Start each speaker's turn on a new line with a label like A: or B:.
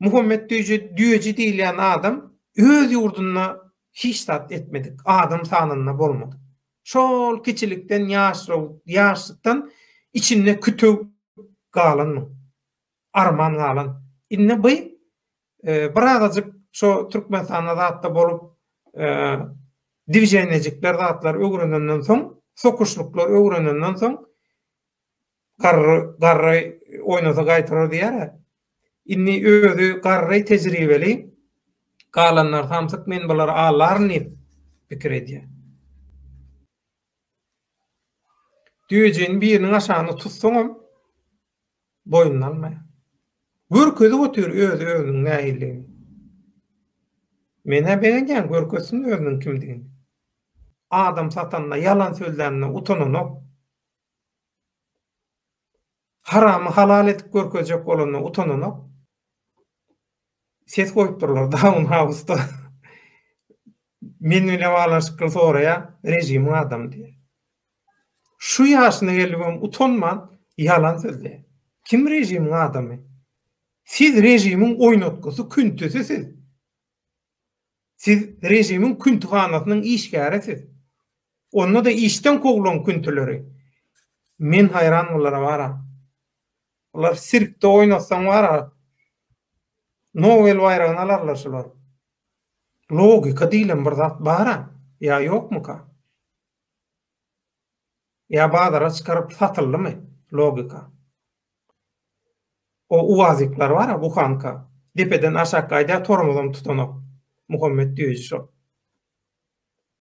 A: Muhammet Düýje Düýeji diýilýän adam öz ýurdunda hiç zat etmedik, adam sanynda bolmadyk. Şol kiçilikden ýaşraw ýaşlykdan içinde kütüw galan muň. Arman galan. Indi by birazajyk şo Türkmenistanda zatda bolup dwiženýejikler zatlar öwrenenden soň, sokuşlyklar öwrenenden soň, Garry, garry oýnasa gaýtarar diýer-ä. Indi özi garry, tejribeli. Galanlar samsyk, men bulary alaryn diýip pikir edýär. Düýejigini biriniň aşagyna tutsaňam, boýnuna almaýar. Görkezip otyr öz-özüniň nähilidigini. Men-ä begenýän, görkezsin özüniň kimdigini. Adam satanda, ýalan sözlände utananok. Haramy halal edip görkezjek bolanda utananok. Ses goýupdyrlar Daun Hausda. Men bile baglanyşykly soraýan režimiň adamy diýen. Şu ýaşyna gelip hem utanman ýalan sözleýän. Kim režimiň adamy? Siz režimiň oýnatgysy, küntüsi siz. Siz režimiň küntühanasynyň işgärisiz. Onda-da işden kowlan küntüleri. Men haýran bulara bara. Bular sirkde oýnatsaň bara, Nobel baýragyny alarlar şular. Logika diýlen bir zat bar-a, ýa ýokmuka? Ýa bazara çykaryp satyldymy logika? O uazikler bara buhanka depeden aşak gaýdýa tormozam tutanok Muhammet düýeji şo.